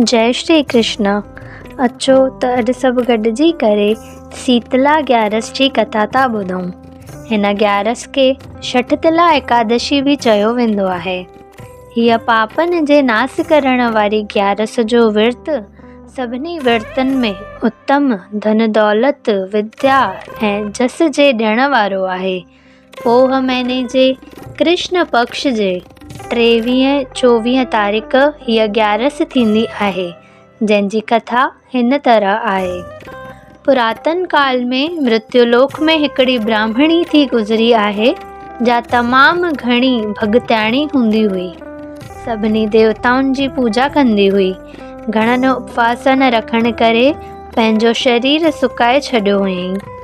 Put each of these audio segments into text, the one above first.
جئي شري ڪرشنا اچو ته اڄ سڀ گڏجي ڪري سيتلا گيارس جي ڪٿا ٿا ٻڌون هن گيارس کي شٺتلا ايڪادشي به چيو ويندو آهي هيء پاپن جي ناس ڪرڻ واري گيارس جو ورت سڀني ورتن ۾ اتم ڌن دولت وديا ۽ جس جي ڏيڻ وارو آهي پوھ مھيني جي ڪرشن پڪش جي ٽيويھين چوويھين تاريخ ھيء گيارس ٿيندي آھي، جنھن جي ڪٿا ھن طرح آھي، پراتن ڪال ۾ مرتيو لوڪ ۾ ھڪڙي براھمڻي ٿي گذري آھي، جا تمام گھڻي ڀڳتياڻي ھوندي ھئي. سڀني ديوتائن جي پوڄا ڪندي ھئي. گھڻن اپواسن رکڻ ڪري پنھنجو شرير سڪائي ڇڏيو ھئائين.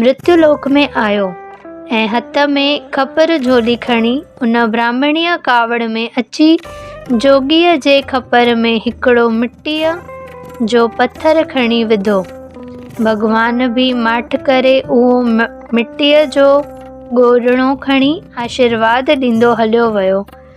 مرتيو لوڪ ۾ آيو ۽ هٿ ۾ کپر جهولي کڻي ان براهمڻيء ڪاوڙ ۾ اچي جوڳيء جي کپر ۾ هڪڙو مٽيء جو پٿر کڻي وڌو. ڀڳوان به ماٺ ڪري اهو مٽيء جو ڳورڙو کڻي آشيرواد ڏيندو هليو ويو.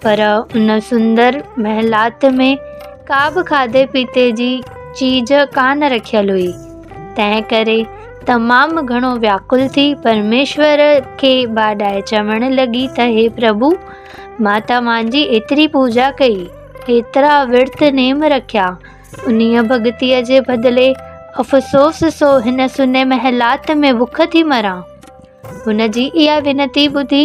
پر ان سندر محلات ۾ ڪا به کاڌي پيتي جي چيج ڪانه رکيل هئي، تنهن ڪري تمام گهڻو وياڪل ٿي پرميشور کي ٻاڏائي چوڻ لڳي ته هي پرڀو! مان توهان جي ايتري پوڄا ڪئي، ايترا ورت نيم رکيا، انهيء ڀڳتيء جي بدلي افسوس سو هن سني محلات ۾ بک ٿي مران. هن جي اها وينتي ٻڌي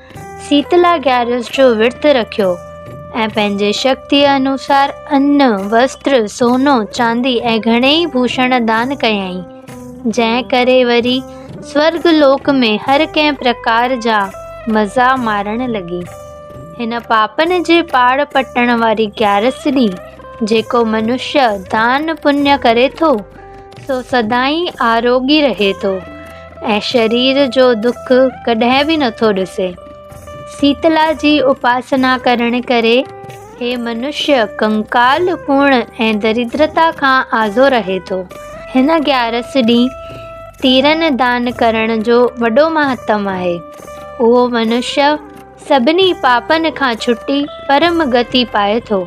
سيتلا گيارس جو ورت رکيو ۽ پنهنجي شڪتيء انوسار ان، وسٽر، سونو، چاندي ۽ گهڻيئي ڀوشڻ دان ڪيائين، جنهن ڪري وري سورڳ لوڪ ۾ هر ڪنهن پرڪار جا مزا مارڻ لڳي. هن پاپن جي پاڙ پٽڻ واري گيارس ڏينهن جيڪو منشيه دان پڃ ڪري ٿو، سو سدائين آروڳي رهي ٿو. ۽ شرير جو دک ڪڏهن به نٿو ڏسي. سيتلا جي اپاسنا ڪرڻ ڪري هي منشيه ڪنڪال پڻ ۽ دريدرتا کان آزو رهي ٿو. هن گيارس ڏينهن تيرن دان ڪرڻ جو وڏو مهتم آهي. اهو منشيه سڀني پاپن کان ڇٽي پرم گتي پائي ٿو.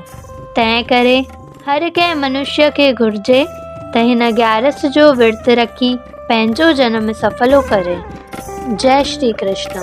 تنهن ڪري هر ڪنهن منشيء کي گهرجي ته هن گيارس جو ورت رکي پنهنجو جنم سڦلو ڪري. جئه شري ڪرشنا.